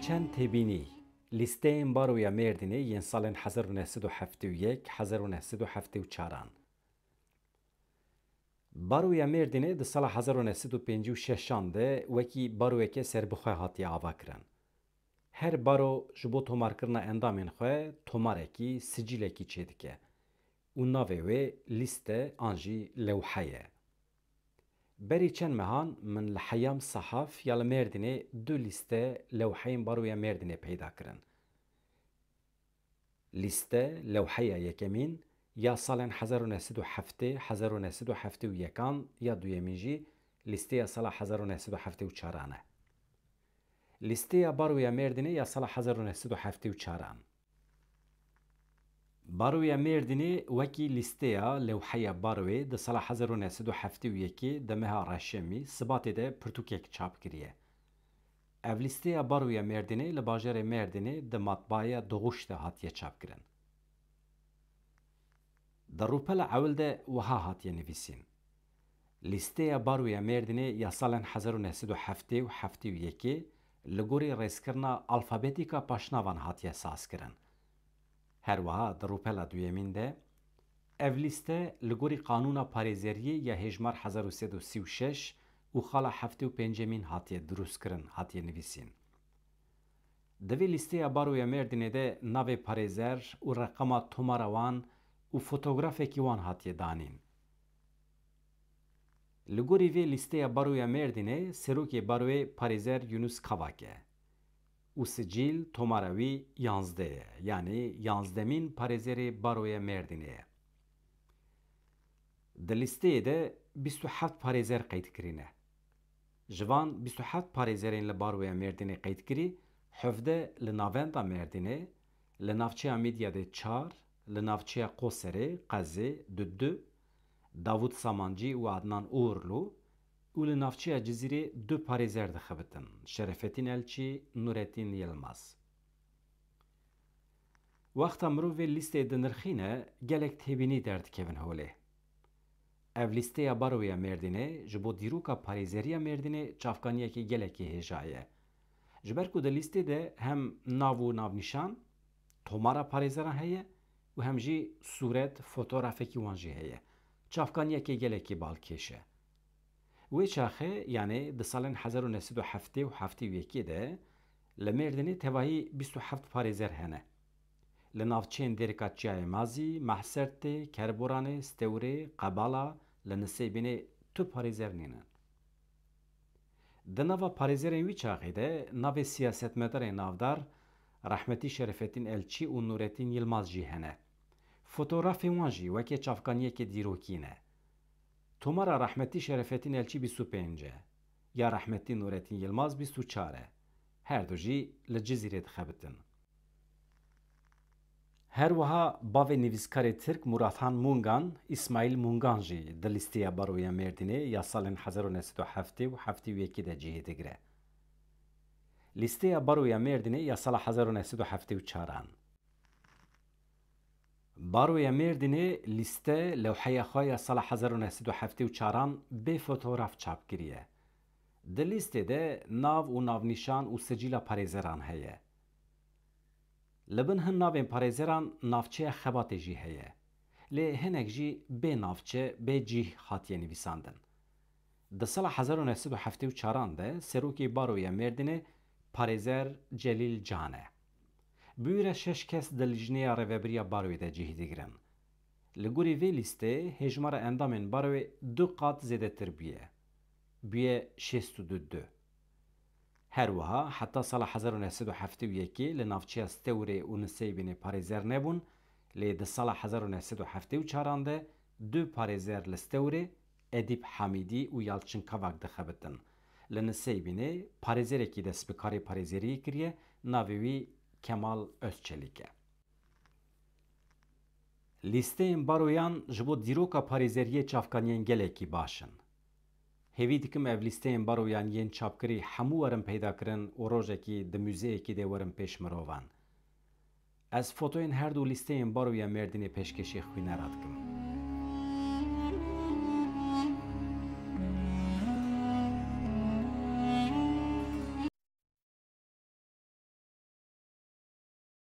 Çend têbînî, Lîsteyên Baroya Mêrdînê yên salên hezar û neh sed û heftê û yek, hezar û neh sed û heftê û çar an. Baroya Mêrdînê di sala hezar û neh sed û pêncî û şeş an de wekî baroyeke serbixwe hatiye avakirin. Her baro ji bo tomarkirina endamên xwe tomarekî, sicîlekî çêdike. û navê wê lîste an jî lewhe ye. Berî çend mehan min li Heyam Sahaf ya li Mêrdînê du lîste lewheyên Baroya Mêrdînê peyda kirin. Lîste lewheya yekemîn ya salên hezar û neh sed û heftê, hezar û neh sed û heftê û yek an, ya duyemîn jî lîsteya sala hezar û neh sed û heftê û çar an e. Lîsteya Baroya Mêrdînê ya sala hezar û neh sed û heftê û çar an. Baroya Mêrdînê wekî lîsteya lewheya baroyê di sala hezar û neh sed û heftê û yekê de meha reşemî, sibatê de pirtûkek çap kiriye. Ev lîsteya baroya Mêrdînê li bajarê Mêrdînê di matbaaya Doğuş de hatiye çapkirin. Di rûpela ewil de wiha hatiye nivîsîn. Lîsteya Baroya Mêrdînê ya salên hezar û neh sed û heftê û heftê û yekê li gorî rêzkirina alfabetîka paşnavan hatiye sazkirin. Her wiha di rûpela duyemîn de ev lîste li gorî qanûna parêzeriyê ya hêjmar hezar û sed û sî û şeş û xala heftê û pêncemîn hatiye dirûstkirin hatiye nivîsîn. Di vê lîsteya Baroya Mêrdînê de navê parêzer û reqama tomara wan û fotografekî wan hatiye danîn. Li gorî vê lîsteya Baroya Mêrdînê Serokê Baroyê Parêzer Yunus Kavak e û sicîl, tomara wî yanzdeh ye, yanî yanzdemîn Parêzerê Baroya Mêrdînê ye. Di lîsteyê de bîst û heft parêzer qeyd kirîne. Ji van bîst û heft parêzerên li Baroya Mêrdînê qeyd kirî, hevdeh li navenda Mêrdînê, li navçeya Mîdyadê çar, Li navçeya Qoserê, Qezê, du du, Davût Samancî û Adnan Uğurlu, û li navçeya Cizîrê du parêzer dixebitin, Şerefetîn Elçî, Nuretîn Yilmaz. Wexta mirovê lîsteyê dinirxîne gelek têbînî derdikevin holê. Ev lîsteya Baroya Mêrdînê ji bo dîroka parêzeriya Mêrdînê çavkaniyekî gelekî hêja ye. Ji ber ku di lîstê de hem nav û navnîşan, Tomara parêzeran heye û hem jî sûret, fotografekî wan jî heye. Çavkaniyekê gelekî balkêş e. Wê çaxê yanê di salên hezar û neh sed û heftê û heftê û yekê de li Mêrdînê tevahî bîst û heft parêzer hene. Li navçeyên Dêrika Çiyayê Mazî, Mahsertê, Kerboranê, Stewrê, Qebala, li Nisêbînê tu parêzer nînin. Di nava parêzerên wî çaxê de navê siyasetmedarên navdar Rehmetî Şerefettîn Elçî û Nûrettîn Yilmaz jî hene. Fotografên wan jî wekê çavkaniyekê dîrokî ne. Tomara Rehmetî Şerefettîn Elçî bîst û pênc e. Ya Rehmetî Nûrettîn Yilmaz bîst û çar e. Her du jî li Cizîrê dixebitin. Her wiha bavê nivîskarê Tirk Murathan Mungan, Îsmaîl Mungan jî di lîsteya Baroya Mêrdînê ya salên hezar û neh sed û heftê û heftê û yekê de cihê digire. Lîsteya Baroya Mêrdînê ya sala hezar û neh sed û heftê û çar an. Baroya Mêrdînê lîste lewheya xwe ya sala hezar û neh sed û heftê û çar an bê fotograf çap kiriye. Di lîstê de nav û navnîşan û sicîla parêzeran heye. Li bin hin navên parêzeran navçeya Xebatê jî heye. Lê hinek jî bê navçe, bê cîh hatiye nivîsandin. Di sala hezar û neh sed û heftê û çar an de serokê Baroya Mêrdînê Parêzer Celîl Can e. Bûyî re şeş kes di lijneya rêvebiriya Baroyê de cîh digirin. Li gorî vê lîstê hêjmara endamên Baroyê du qat zêdetir bûye. Bûye şêst û du du. Her wiha heta sala hezar û neh sed û heftê û yekê li navçeya Stewrê û Nuseybînê parêzer nebûn, lê di sala hezar û neh sed û heftê û çar an de du parêzer li Stewrê, Edîp Hamîdî û Yalçin Kavak dixebitin. Li Nuseybînê parêzerekî dest bi karê parêzeriyê kiriye, navê wî Kemal Ozçelik e. Lîsteyên baroyan ji bo dîroka parêzeriyê çavkaniyên gelekî baş in. Hêvî dikim ev lîsteyên baroyan yên çapkirî hemû werin peydakirin û rojekî di muzeyekî de werin pêş mirovan. Ez fotoyên her du lîsteyên Baroya Mêrdînê pêşkêşî xwînera dikim.